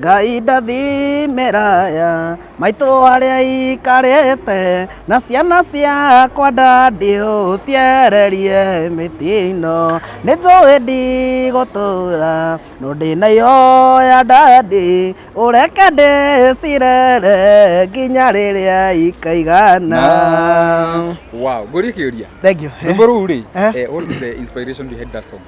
ngai ndathimĩraya maitũ arĩa ikarĩte na ciana ciakwa ndandiũ ciererie mĩtino nĩ njũĩ ndigũtũra no ndĩnayo ya ndandi ũreke ndĩcirere nginya rĩrĩa ikaigana wow ngũrie kĩũria thank you rwĩmbo rũu rĩ Eh. eh, what is the inspiration behind that song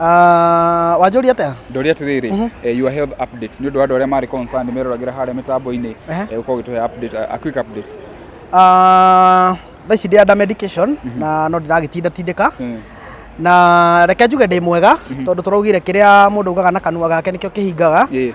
Ah, wanjũria atĩa ndoria atĩrĩrĩ Mhm. eh, your health update nĩ ũndũ wa andũ arĩa marĩ concerned meroragĩra harĩa mĩtambo-inĩ Ehe. eh, ũkorwo ũgĩtũhe update a a quick update Ah, thaa ici ndĩ under medication Mhm. na no ndĩragĩtinda tindĩka Mm. na reke njuge ndĩ mwega tondũ tũraugire kĩrĩa mũndũ augaga na kanua gake nĩkĩo kĩhingaga Yeah.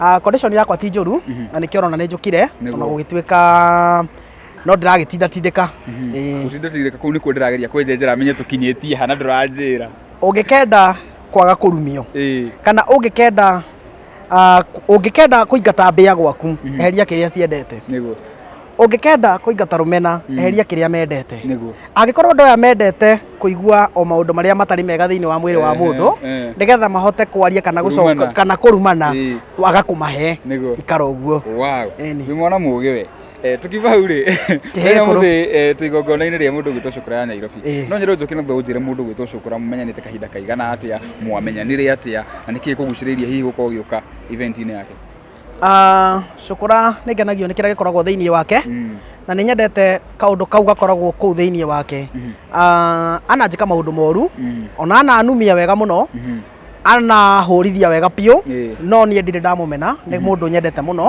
Ah, condition yakwa ti njũru na nĩkĩo ũrona nĩ njũkire Nĩguo. ona gũgĩtuĩka no ndĩragĩtinda tindĩka Ĩĩ. Ũtindatirĩka kũu nĩkuo ndĩrageria kwenjenjera menye tũkinyĩtie hana ndũranjĩra. ũngĩkenda kwaga kũrumio Ĩĩ. kana ũngĩkenda ah, ũngĩkenda kũingata mbĩa gwaku eheria kĩrĩa ciendete Nĩguo. ũngĩkenda kũingata rũmena mm. eheria kĩrĩa mendete angĩkorwo andũ aya mendete kũigua o maũndũ marĩa matarĩ mega thĩinĩ wa mwĩrĩ wa mũndũ nĩgetha mahote kwaria kana gũcoka kana kũrumana waga kũmahe ikara ũguo nĩ mwana mũgĩ we eh, tukiuma hau rĩ rĩrĩa mũthĩ eh, twĩ igongona-inĩ rĩa mũndũ gwĩtwo cukura ya nairobi eh. no nyĩrwo njoke naguo ũnjĩre mũndũ gwĩtwo cukura mũmenyanĩte kahinda kaigana atĩa mwamenyanire atĩa na nĩkĩĩ kũgucĩrĩirie hihi gũkorwo ũgĩũka event-inĩ yake Cũkũra nĩ ngenagio nĩ kĩrĩa gĩkoragwo thĩinĩ wake na nĩ nyendete kaũndũ kau gakoragwo kũu thĩinĩ wake. Ananjĩka maũndũ moru, ona ananumia wega mũno, anahũrithia wega biũ, no niĩ ndirĩ ndamũmena, nĩ mũndũ nyendete mũno.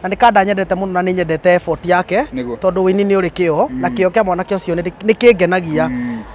Na nĩ kanda nyendete mũno na nĩ nyendete effort yake, tondũ ũini nĩ ũrĩ kĩo, na kĩo kĩa mwanake ũcio nĩ kĩngenagia.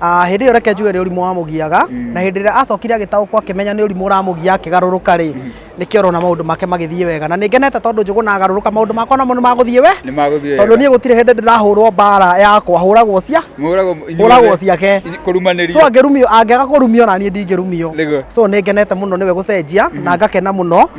Ah, hĩndĩ ĩyo reke njuge nĩ ũrimũ wamũgiaga na hĩndĩ ĩrĩa acokire agĩtaũkwo akĩmenya nĩ ũrimũ ũramũgia akĩgarũrũka rĩ nĩkĩo ũrona maũndũ make magĩthiĩ wega na nĩngenete tondũ njũgũ na agarũrũka maũndũ makwa namo nĩ magũthiĩ we nĩ magũthiĩ tondũ niĩ gũtirĩ hĩndĩ ndĩrahũrwo mbara yakwa hũragwo cia mũragwo hũragwo ciake so kũrumanĩria angĩrumio angĩaga kũrumio na niĩ ndingĩrumio Nĩguo. so nĩngenete mũno nĩwe gũcenjia na ngakena mũno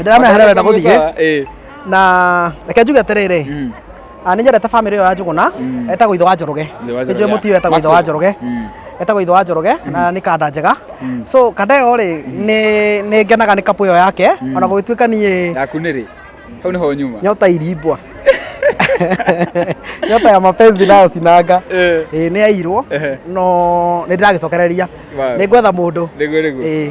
ndĩramehera wenda gũthiĩ Eh. na reke njuge atĩrĩrĩ Mm. ah, nĩ nyendete bamĩrĩ ĩyo ya njũgũna Mm. etagwo ithe wa njoroge Ithe wa Njoroge, nĩnjũĩ mũti ũyũ etagwo ithe wa Maxwell. njoroge Mm. etagwo ithe wa njoroge na nĩ kanda njega Mm. so kanda ĩyo rĩ nĩ- nĩ ngenaga nĩ kapu ĩyo yake Mm. ona gũgĩtuĩka niĩ Yaku nĩ rĩ? Hau nĩho nyuma. nyota irimbwa nyota ya mapenzi nayo sinanga Eh. ĩĩ nĩ yairwo Ehe. no nĩ ndĩragĩcokereria Wow. nĩ ngwetha mũndũ Nĩguo nĩguo. ĩĩ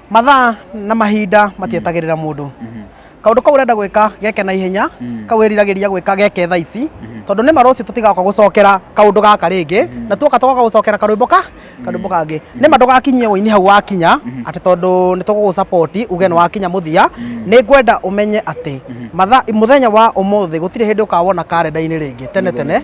mathaa na mahinda matietagĩrĩra mũndũ Mhm. kaũndũ kau ũrenda gwĩka geke na ihenya Mm. kau wĩriragĩria gwĩka geke thaa ici tondũ nĩ marũciũ tũtigaoka gũcokera kaũndũ gaka rĩngĩ na tuoka tũgoka gũcokera karwĩmbo ka karwĩmbo kangĩ nĩ ma ndũgakinyie ũini hau wakinya atĩ tondũ nĩ tũgũgũcapoti uge nĩ wakinya mũthia nĩ ngwenda ũmenye atĩ mathaa mũthenya wa ũmũthĩ gũtirĩ hĩndĩ ũkawona karenda-inĩ rĩngĩ tene tene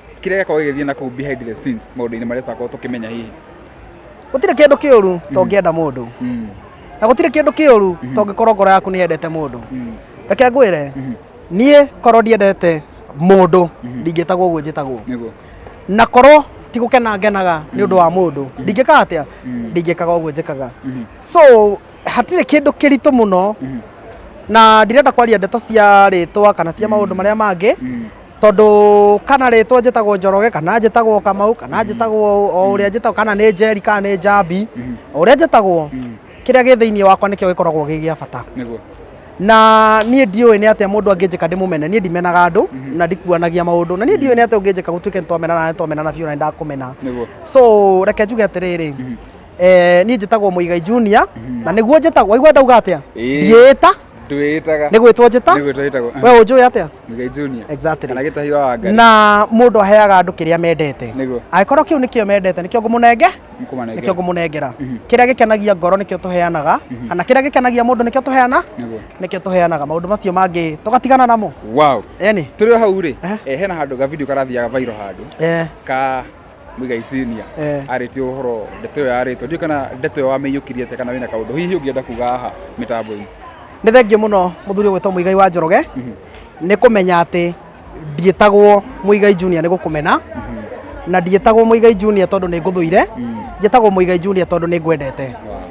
kĩrĩa gĩakorwo gĩgĩthiĩ na kũu behind the scenes maũndũ-inĩ marĩa tũtakorwo tũkĩmenya hihi gũtirĩ kĩndũ kĩũru to ngĩenda mũndũ Mm, na gũtirĩ kĩndũ kĩũru Mhm. to ngĩkorwo ngoro yaku nĩ yendete mũndũ mm, reke ngwĩre mhm, niĩ korwo ndiendete mũndũ Mhm. ndingĩtagwo ũguo njĩtagwo nĩguo na korwo ti gũkena ngenaga nĩ ũndũ wa mũndũ ndingĩka atĩa Mm. ndingĩkaga ũguo njĩkaga Mhm, so hatirĩ kĩndũ kĩritũ mũno mhm, na ndirenda kwaria ndeto cia rĩtwa kana cia maũndũ marĩa mangĩ mm, tondũ kana rĩtwa njĩtagwo njoroge kana njĩtagwo kamau kana njĩtagwo o ũrĩa njĩtagwo kana nĩ njeri kana nĩ njambi o ũrĩa njĩtagwo kĩrĩa gĩ thĩinĩ wakwa nĩkĩo gĩkoragwo gĩ gĩa bata nĩguo na niĩ ndiũĩ nĩ atĩa mũndũ angĩnjĩka ndĩmũmene niĩ ndimenaga andũ na ndikuanagia maũndũ na niĩ ndiũĩ nĩ atĩa ũngĩnjĩka gũtuĩke nĩ twamenana na nĩ twamenana biũ na nĩ ndakũmena nĩguo so reke njuge atĩrĩrĩ Eh, niĩ njĩtagwo Mũigai Junior na nĩguo njĩtagwo waigua ndauga atĩa Ĩĩ. ndiĩta ndwĩĩtaga nĩ gwĩtwo njĩta nĩ gwĩtwo ĩtagwo we ũnjũĩ atĩa Mũigai Junior Exactly. kana gĩtahi wa wangari na mũndũ aheaga andũ kĩrĩa mendete Nĩguo. angĩkorwo kĩu nĩkĩo mendete nĩkĩo ngũmũnenge Nĩkũmanengera. nĩkĩo ngũmũnengera Mhm. kĩrĩa gĩkenagia ngoro nĩkĩo tũheanaga Mhm. kana kĩrĩa gĩkenagia mũndũ nĩkĩo tũheana Nĩguo. nĩkĩo tũheanaga maũndũ macio mangĩ tũgatigana namo wow eni tũrĩ o hau rĩ Ehe. eh, hena handũ ga video karathiaga vairo handũ eh, ka Muigai Senior Eh. arĩtie ũhoro ndeto ĩyo yarĩtwo ndiũ kana ndeto ĩyo wamĩiyũkirie te kana wĩna kaũndũ hihi ũngĩenda kuga haha mĩtambo-inĩ nĩ thengiũ mũno mũthuri ũgwĩtwo mũigai wa njoroge nĩ kũmenya atĩ ndiĩtagwo mũigai junior nĩ gũkũmena na ndiĩtagwo mũigai junior tondũ nĩ ngũthũire njĩtagwo mũigai junior tondũ nĩ ngwendete Wow.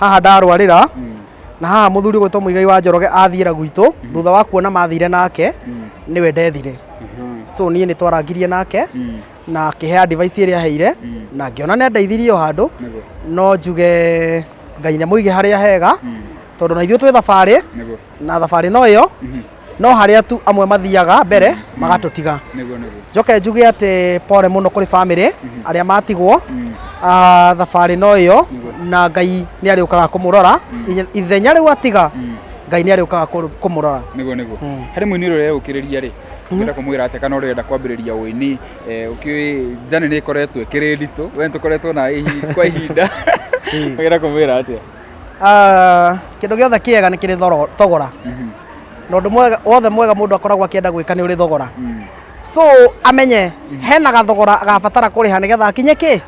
haha ndarwarĩra na haha mũthuri gwĩtwo mũigai wa njoroge athiĩra gwitũ thutha wa kuona mathire nake nĩwe ndethire so niĩ nĩ twarangirie nake na akĩhe advice ĩrĩa aheire na ngĩona nĩ andeithirie o handũ no njuge ngai nĩ mũige harĩa hega tondũ na ithuĩ twĩ thabarĩ na thabarĩ no ĩyo no harĩa tu amwe mathiaga mbere magatũtiga nĩguo nĩguo njoke njuge atĩ pole mũno kũrĩ bamĩrĩ arĩa matigwo ah, thabarĩ no ĩyo na ngai nĩ arĩũkaga kũmũrora Ithe- ithenya rĩu atiga ngai nĩ arĩũkaga kũrũ- kũmũrora nĩguo nĩguo Mm. harĩ mũini ũrĩa ũreũkĩrĩria rĩ ũngĩenda kũmwĩra atĩa kana ũrenda kwambĩrĩria ũini eh, ũkĩũĩ njane nĩ ĩkoretwo ĩkĩrĩ nditũ we nĩ tũkoretwo na ihi- kwa ihinda ũngĩenda kũmwĩra atĩa Ah, kĩndũ gĩothe kĩega nĩ kĩrĩ thoro- thogora na ũndũ mwega- wothe mwega mũndũ akoragwo akĩenda gwĩka nĩ ũrĩ thogora so amenye hena gathogora agabatara kũrĩha nĩgetha akinye kĩ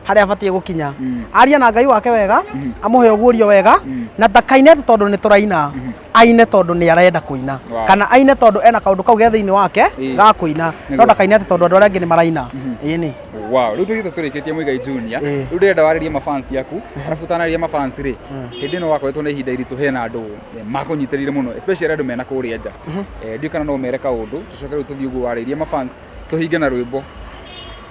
harĩa abatiĩ gũkinya aria na ngai wake wega amũhe ũguũrio wega na ndakaine atĩ tondũ nĩ tũraina aine tondå nä arenda kå ina Wow. kana aine tondå ena kaå ndå kau ge thä inä wake Ĩĩ. ga kå ina Nĩguo. no ndakaine atä tondå andå arä angä nä maraina ä nä wow rĩu tũthiĩte tũrĩkĩtie mũigai junior Ĩĩ. rĩu ndĩrenda warĩrie mafans yaku arabu ũtanarĩria mafans rĩ Mm. hĩndĩ ĩno wakoretwo na ihinda iritũ hena andũ eh, makũnyitĩrĩire mũno especially andũ mena kũrĩa nja Eh, ndiũĩ kana no ũmere kaũndũ tũcoke rĩu tũthiĩ ũguo warĩrie mafans tũhinge na rwĩmbo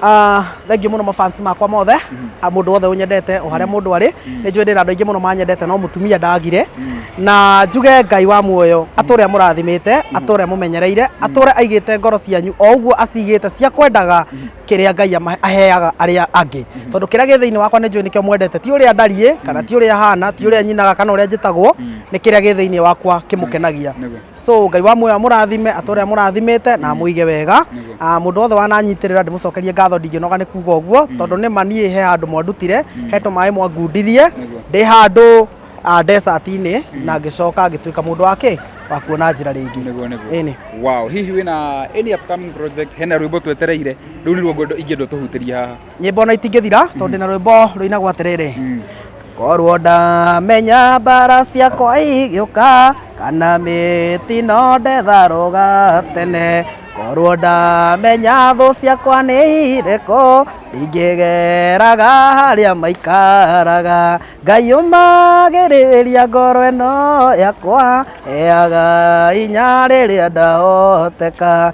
Ah, thengiũ mũno mafansi makwa mothe Mhm. a mũndũ wothe ũnyendete o harĩa mũndũ arĩ Mhm. nĩ njũĩ ndĩna andũ aingĩ mũno manyendete no mũtumia ndagire Mm. na njuge ngai wa muoyo atũrĩa mũrathimĩte atũrĩa mũmenyereire atũrĩa aigĩte ngoro cianyu o ũguo acigĩte cia kwendaga kĩrĩa ngai ama- aheaga arĩa angĩ tondũ kĩrĩa gĩ thĩinĩ wakwa nĩ njũĩ nĩkĩo mwendete ti ũrĩa ndariĩ kana ti ũrĩa hana ti ũrĩa nyinaga kana ũrĩa njĩtagwo Mm. nĩ kĩrĩa gĩ thĩinĩ wakwa kĩmũkenagia Nĩguo. so ngai wa muoyo amũrathime atĩ ũrĩa mũrathimĩte na amũige wega Ah, mũndũ wothe wananyitĩrĩra ndĩmũcokerie ngatho ndingĩnoga nĩ kuga ũguo tondũ nĩ ma niĩ he handũ mwandutire he tũmaĩ mwangundithie ndĩ handũ ah, desert-inĩ na ngĩcoka ngĩtuĩka mũndũ wake wa kuona njĩra rĩngĩ Nĩguo, nĩguo. Ĩnĩ. wow hihi wĩna any upcoming project hena rwĩmbo twetereire rũu nĩruo ngwenda ingĩenda ũtũhutĩrie haha nyĩmbo ona itingĩthira tondũ ndĩ na rwĩmbo rũinagwo atĩrĩrĩ korwo ndamenya mbara ciakwa igĩũka kana mĩtino ndetharũga tene korwo ndamenya thũ ciakwa nĩ irĩkũ ndingĩgeraga harĩa maikaraga ngai ũmagĩrĩria ngoro ĩno yakwa heaga inya rĩrĩa ndahoteka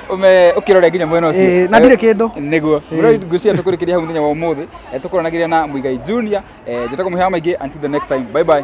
ume ukirore nginya mwena ucio Eh, na ndirĩ kĩndũ. niguo ngwiciria tukurikiria hau muthenya wa umuthi tukuranagirira na muigai junior eh, njĩtagwo muhewa maingĩ until the next time bye bye